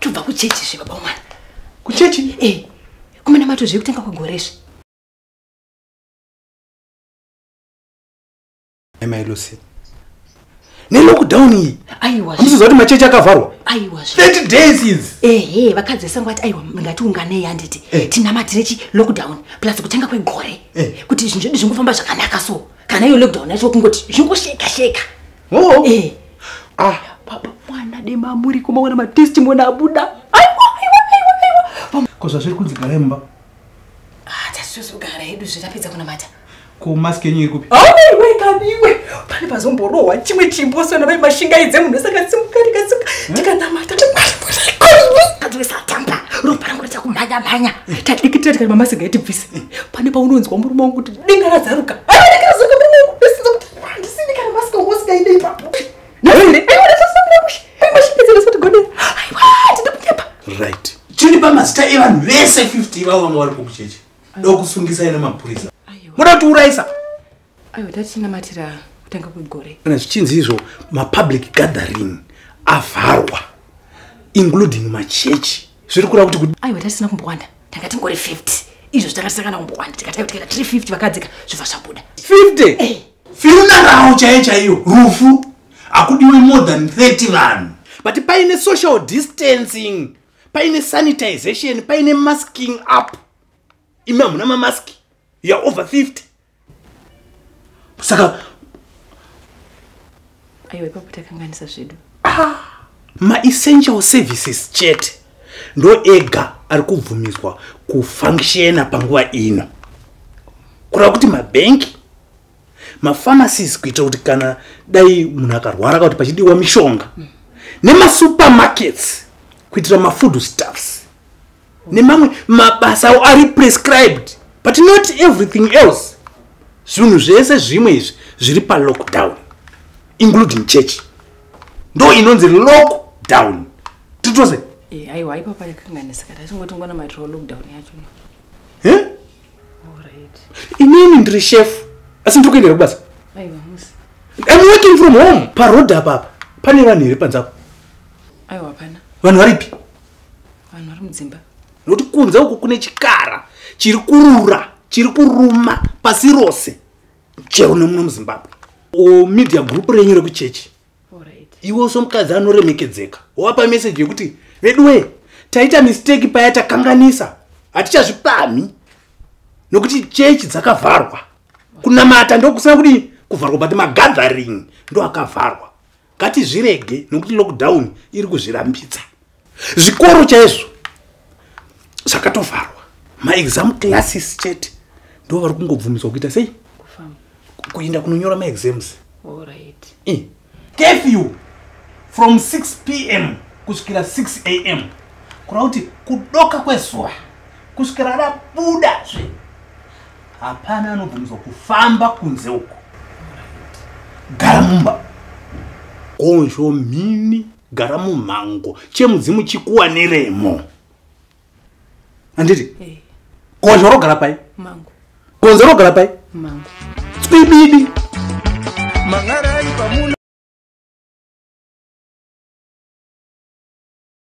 tobva kuchechi zve baba mwana kuchechi e eh, kumanamato zve kutanga kwegore zve amai lucy nelockdown iyi amusiziva kuti machechi akavharwa aiwa 30 days is ehe vakadzi vesango vati aiwa ngatiunganei handiti eh. tinamatire chi lockdown plus kutanga kwegore eh. kuti zvinhu zvedu zvingofamba zvakanaka so kana iyo lockdown yacho kungoti zvingosheka sheka, sheka. Oh. Eh. Ah. Baba mwana dema muri kumaona ma testimony abuda. Aiwa aiwa aiwa aiwa. Ko zvazviri kunzi gara imba. Ah, tasusu gara hedu zvirapedza kuna mata. Ko mask yenyu iri kupi? Oh, aiwa kaniwe. Pane pazomborowa chimwe chimbo sona bai mashinga idze munhu saka simuka ndikasimuka. Eh? Ndikanamata. Adresa tamba. Ropa rangu richa kumhanya mhanya. Eh. Tadikitira tikati mama singaiti bvise. Eh. Pane paunonzwa murume wangu kuti dinga razaruka. Ai, dinga razaruka. right chini pamazita evanhu vese 50 ivavo vanga vari kukucheche dokusungisai nemapurisa muda kuti uraisa aiwa tachinamatira kutanga kwegore kana zvichinzi izvo mapublic gathering avharwa including machechi zviri kureva kuti aiwa tatisina kumbowanda tanga tingori 50 izvo zvitanga tisakana kumbowanda tikatanga kuti kana tiri 50 vakadzika zvibva zvabuda 50 eh. fiunarawo chaiyo chaiyo rufu hakudiwe more than 30 vanhu but paine social distancing paine sanitization paine masking up imi hamuna mamask youare over 50 saka aiwa ipapo takanganisa zvedu ah, maessential services chete ndo ega ari kubvumidzwa kufunctiona panguva ino kureva kuti mabhenki mafamasis kuita kuti kana dai munhu akarwara ka kuti pachidiwa mishonga mm. nemasupermarkets kuitira mafood staffs nemamwe mabasa awo ari prescribed but not everything else zvinhu zvese zvimwe izvi zviri palockdown including church ndo inonzi lockdown titose eh, aiwa ipapa rekanganisika tatingotingona maitiro lockdown yacho eh? inini ndiri chef asi ndiri kuendera kubasa im working from home paroad apapa pane vanhu here panzapo vanhu varipi vanhu vari mudzimba nokuti kunze uku kune chikara chiri kurura chiri kuruma pasi rose chero nemuno muzimbabwe media group renyu rekuchechi iwe so mukadzi anoremekedzeka wapa meseji yekuti veduwe taita misteki paya takanganisa hatichazvipamhi nokuti chechi dzakavharwa kunamata ndokusina kuti kuvharwa but magathering ndoakavharwa ngatizvirege nokuti lockdown iri kuzvirambidza zvikoro chaizvo zvakatovharwa maexam classes chete ndo vari kungobvumidzwa kuita sei kuenda kunonyora maexams kefew from 6 p m kusvikira 6 a m kureva kuti kudoka kwezuva kusvikira rabuda zve hapana anobvumidzwa kufamba kunze uko gara mumba gonzvo mhini gara mumhango chemudzimu chikuwaniremo anditi eh. gonzvo rogara pai gonzo rogara pai tswibidi